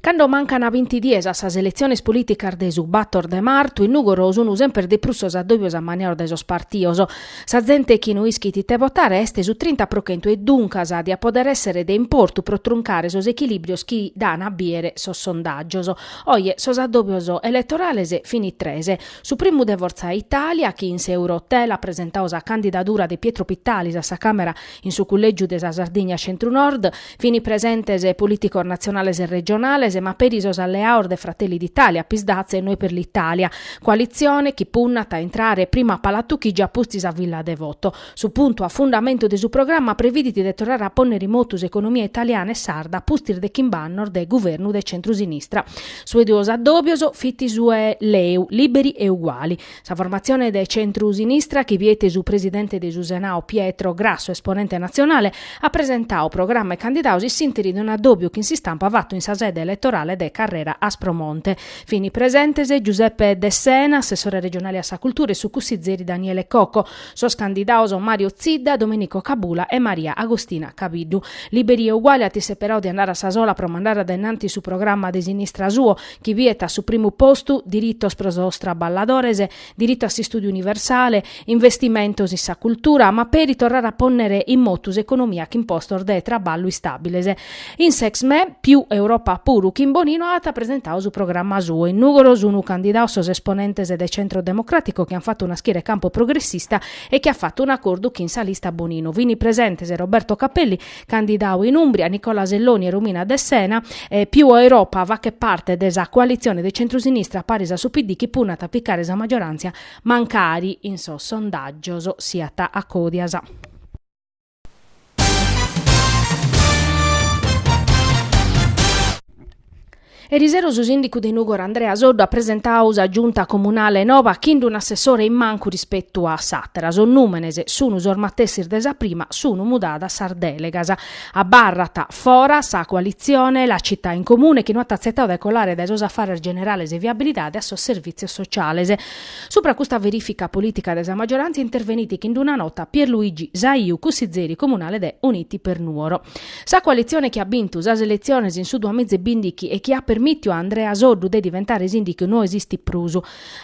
Cando mancan binti dies a sas eletziones polìticas de su bator de martu, in Nùgoro sunt semper de prus sos addòbios ammaniaos dae sos partidos. Sa zente chi no ischit ite votare est su trinta pro chentu e duncas diat pòdere èssere de importu pro truncare sos echilìbrios chi daan a bìdere sos sondàgios. Oje sos addòbios eletorales fint tres. Su primu de Fortza Itàlia chi in s'Eurohotel at presentadu sa candidadura de Pietro Pittalis a sa Càmera in su cullègiu de sa Sardigna Centru-Nord, Fini presentes politicos natzionales e regionales, ma peri sos alleados de Fratelli d'Italia, Psd'Az e Noi per l'Italia, coalitzione chi punnat a intrare prima a Palatu Chigi a pustis a Villa Devoto. Su puntu a fundamentu de su programma previdit de torrare a pònnere in motu s'economia italiana e sarda a pustis de chimb'annos de guvernu de centru-sinistra. Su 'e duos addòbios fit su 'e LeU, Liberi e Uguali. Sa formatzione de centru-sinistra chi biet su presidente de su Senau Pietro Grasso, esponente natzionale, at presentadu programma e candidados in s'interi de un'addòbiu chin s'istampa fatu in sa sede eletorale de Carrera Aspromonte. Fini presentes Giuseppe Dessena, assessore regionale a sa cultura e su cussizeri Daniele Cocco, sos candidados Mario Zidda, Domenico Cabula e Maria Agostina Cabiddu. Liberi e Uguali at isseperadu de andare a sa sola pro mandare a dae in antis su programma de sinistra suo, chi biet a su primu postu diritos pro sos traballadores, diritu a s'istùdiu universale, investimentos in sa cultura, ma peri torrare a pònnere in motu s'economia chin postos de traballu istàbiles. In s'Exme, Più Europa puru, chin Bonino at presentadu su programma suo. In Nùgoro sunt candidados sos esponentes de Centro Democràtico chi ant fatu naschire Campo Progressista e chi at fatu un'acordu chin sa lista Bonino. Fini presentes Roberto Capelli Candidau in Umbria, Nicola Selloni e Romina Dessena. Più Europa faghet parte de sa coalitzione de centrusinistra paris a su PD chi punnat a picare sa maggioràntzia mancari in sos sondàgios siat a còdias. Erisero su sìndicu de Nùgoro Andrea Soddu at presentadu sa Giunta Comunale noba chind'un'assessore in mancu rispetu a s'àtera, sos nùmenes sunu sos matessis de sa prima, sunu mudadas sas dèlegas. Abarrat fora sa coalitzione La Città in Comune chi no at atzetadu de colare dae sos afares generales e viabilidade a sos servìtzios sociales. Supra custa verìfica polìtica de sa maggiorantzia intervenit chind'una nota Pierluigi Saiu, cussizeri comunale de Uniti per Nuoro. Sa coalitzione chi at bintu sas eletziones in su duamiza e bìndichi e chi at permìtiu a Andrea Soddu de diventare sìndicu no esistit prus.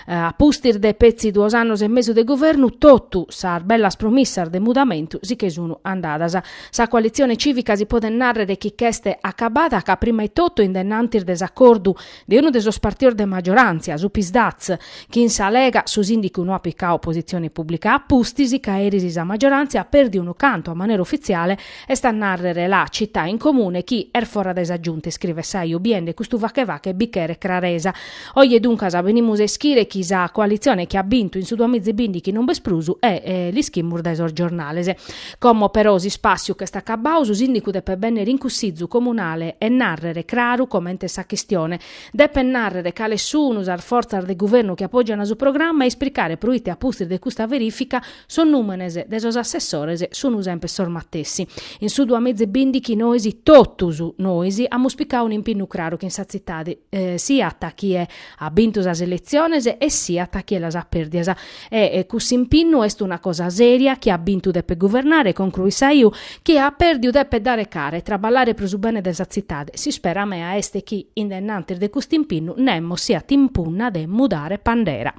A pustis de petzi duos annos e mesu de guvernu, totu sas bellas promissas de mudamentu si che sun andadas. Sa coalitzione cìvica si podet nàrrere chi ch'est acabada ca prima etotu in dennantis de s'acordu de unu de sos partidos de maggioràntzia, su Psd'Az, chin sa Lega su sìndicu no at picadu positzione pùblica a pustis ca eris sa maggioràntzia at pèrdiu unu cantu a manera ufitziale, est a nàrrere la Città in Comune chi est fora dae sa Giunta, iscrivet Saiu biende custu fache-fache bi cheret craresa. Oje duncas benimus a ischire chi sa coalitzione chi at bintu in su duamiza e bìndighi non b'est prus e l'ischimus dae sos giornales. Como però s'ispàssiu ch'est acabau, su sìndicu depet bènnere in cussizu comunale e nàrrere craru comente est sa chistione. Depet nàrrere cales sunu sas fortzas de guvernu chi apògiant su programa e ispricare proite a pustis de custa verìfica sos nùmenes de sos assessores sunu semper sos matessi. In su duamiza e bìndighi nois, totus nois, amus picadu un'impinnu craru chin sa tzitade, siat chie at bintu sas eletziones e siat chie las at pèrdias, E cuss'impinnu est una cosa seria, chie at bintu depet guvernare, concruit Saiu, chie at perdiu depet dare cara e traballare pro su bene de sa tzitade, s'ispera mea est chi in denantis de cust'impinnu nemos siat in punna de mudare pandera.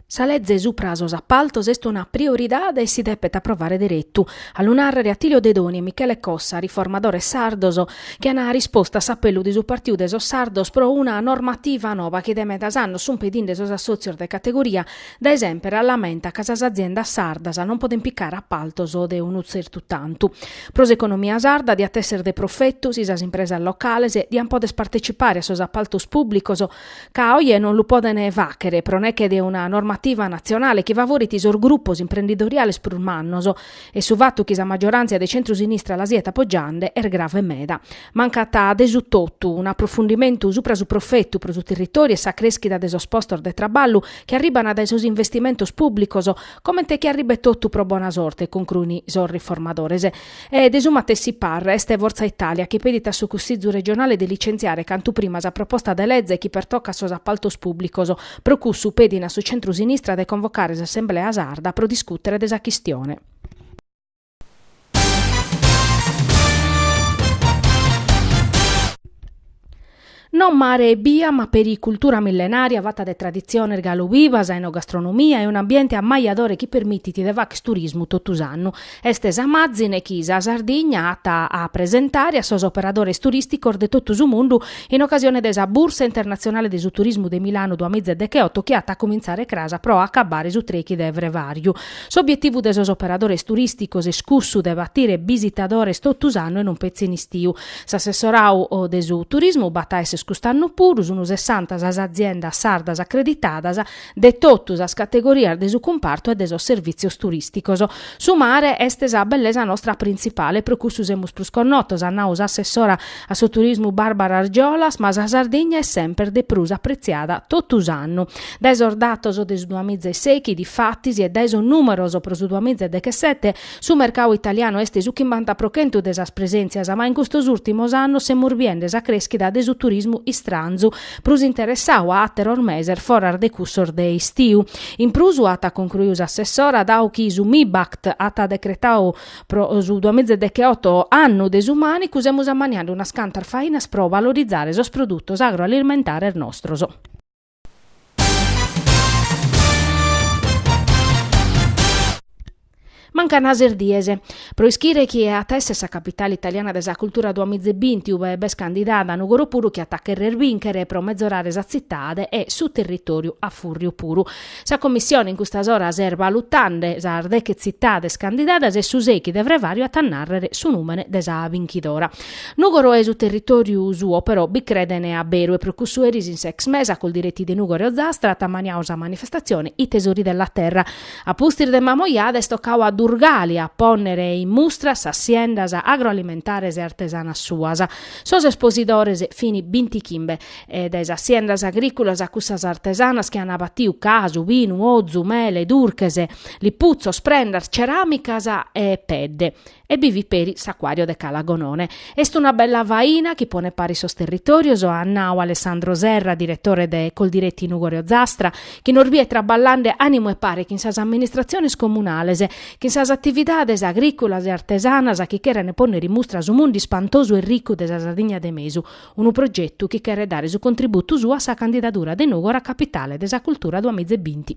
Sa leze supra a sos appaltos est una prioridade e si depet approvare deretu, a lu nàrrere Attilio Dedoni e Michele Cossa, riformadores sardos, chi ant rispostu a s'appellu de su Partidu de sos Sardos pro una normativa noba chi de medas annos sunt pedinde sos assòtzios de categoria, dae semper a lamenta ca sas aziendas sardas non podent picare appaltos de unu tzertu tantu. Pro s'economia sarda diat èssere de profetu si sas impresas locales diant pòdere partecipare a sos appaltos pùblicos, ca oje non lu poden fàghere pro neche de una normativa natzionale chi favorit sos grupos imprendidoriales prus mannos, e su fatu chi sa maggioràntzia de centru-sinistra la siat apogiende est grave meda. Mancat de su totu un'aprofundimentu supra su profetu pro su territòriu e sa crèschida de sos postos de traballu chi arribant dae sos investimentos pùblicos, comente chi arribet totu pro bona sorte, concruin sos riformadores. E de su matessi parre est Forza Italia chi pedit a su Cussizu regionale de licentziare cantu prima sa proposta de leze chi pertocat sos apaltos pùblicos. Pro cussu pedin a su centru-sinistra de convocare s'assemblea sarda pro discùtere de sa chistione. No mare ebbia ma peri cultura millenària fata de traditziones galu bivas, enogastronomia e un'ambiente ammajadore chi permitit de fagher turismu totu s'annu. Est sa màzine chi sa Sardigna at a presentare a sos operadores turìsticos de totu su mundu in ocasione de sa Bursa internatzionale de su turismu de Milanu duas miza e decheoto chi at a comintzare cras pro acabbare su trechi de frevàriu. S'obietivu de sos operadores turìsticos est cussu de batire bisitadores totu s'annu e non petzi in istiu. S'assessorau de su turismu b'at a esser cust'annu puru, sunt sessanta sas aziendas sardas acreditadas, de totu sas categorias de su cumpartu e de sos servìtzios turìsticos. Su mare est sa bellesa nostra printzipale, pro cussu semus prus connotos, at nau s'assessora a su turismu Barbara Argiolas, ma sa Sardigna est semper de prus apretziada totu s'annu. Dae sos datos de su duamiza e sèichi, difatis, e dae sos nùmeros pro su duamiza e dechesete, Su mercau italianu est su chimbanta pro chentu de sas presèntzias, ma in custos ùrtimos annos semus biende sa crèschida de su turismu istranzu, prus interessau a àteros meses foras de cussos de istiu. In prus, at concruiu s'assessora, dau chi su Mibact at decretau pro su duamiza e decheoto Annu de su Mànicu, semus ammaniende unas cantas fainas pro valorizare sos produtos agroalimentares nostros. Mancant ses dies pro ischire chie at a èssere sa capitale italiana de sa cultura duamizebinti, ue b'est candidada Nugoro puru chi at a cherrer bìnchere pro mezorare sa tzitade e su territòriu a fùrriu puru. Sa Commissione in custas oras est balutande sas deche tzitades candidadas e su sèichi de frevàriu at a nàrrere su nùmene de sa binchidora. Nùgoro e su territòriu suo però bi credent a beru e pro cussu eris in s'ex Me sa Coldiretti de Nùgoro e Ozastra at ammaniau sa manifestatzione I tesori della terra. A pustis de Mamojada est tocau a Durgali a pònnere in mustra sas siendas agroalimentares e artesanas suas. Sos esposidores fin bintichimbe, dae sas siendas agrìculas a cussas artesanas chi ant batiu casu, binu, ozu, mele, durches, liputzos, prendas, ceràmicas e pedde. e bi fit peri s'acuàriu de Cala Gonone. Est una bella faina chi ponet paris sos territòrios, at nau Alessandro Serra, diretore de Coldiretti Nùgoro Ozastra, chi nos bidet traballande ànimu e pare chin sas amministratziones comunales, chin sas atividades agrìculas e artesanas chi cherent pònnere in mustra su mundu ispantosu e ricu de sa Sardigna de mesu, unu progetu chi cheret dare su contributu suo a sa candidadura de Nùgoro a Capitale de sa Cultura duamiza e binti.